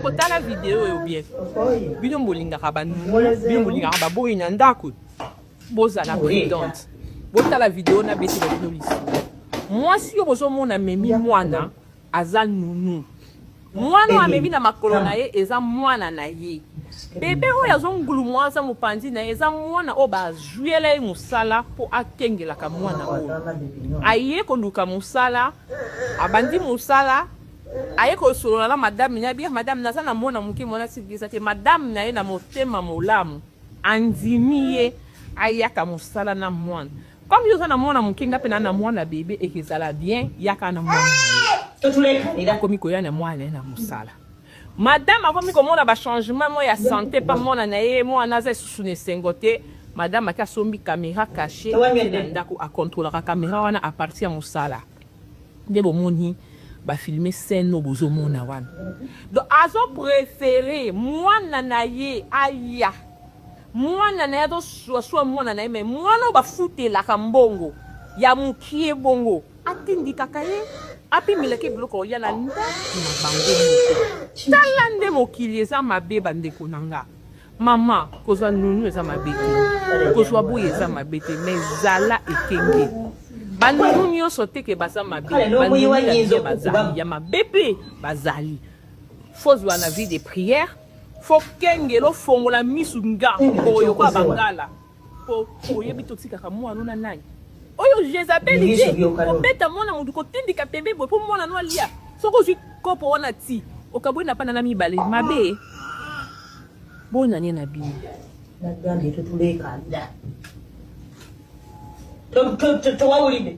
kotala video oyo bien bino bolingaka banunu bino bolingaka baboyi na ndako bozala prudente botala video na betela bino lisu mwasi yo bozomona memi mwana aza nunu mwana oyo amemi na makolo na ye eza mwana na ye bebe oyo azongulumwa aza mopanzi na ye eza mwana oyo bazwela ye mosala mpo akengelaka mwana oyo aye koluka mosala abandi mosala Aye kosolola na madame naye bien madame naza na mwana muke mwana sibili eza te madame naye na motema molamu andimi ye ayaka mosala na mwana comme yo oza na mwana muke nga pe na na mwana bebe ekezala bien yaka na mwana akomi koya na mwana naye na mosala madame akomi komona bachangement mwa ya sante mpa mwana na ye mwana aza lisusu na esengo te madame ake asombi kamera kashe na ndako akontrolaka kamera wana aparti ya mosala nde bomoni ba filme scène oyo bozomona wana donc azo prefere mwana na ye aya mwana na ye azosuasua mwana na ye me mwana oyo bafutelaka mbongo ya mokie bongo atindikaka ye apimelaka ye biloko ya na ndako na bango moko tala nde mokili eza mabe bandeko na nga Maman kozwa nunu eza mabe te kozwa boye eza mabe te mais zala ekenge banunu nyonso te ke baza mabe banunu bazali ya mabe mpe bazali fozwa na vie de prière fokengela ofongola misu nga oyo kwa bangala po oyebi totikaka mwana na nani oyo jezabeli te kobeta mwana motu kotindika pembe boye mpo mwana no alia soki ozwi kopo wana ti okabwe na pana na mibale mabe bonane na bino nagambye totulekanda towawulide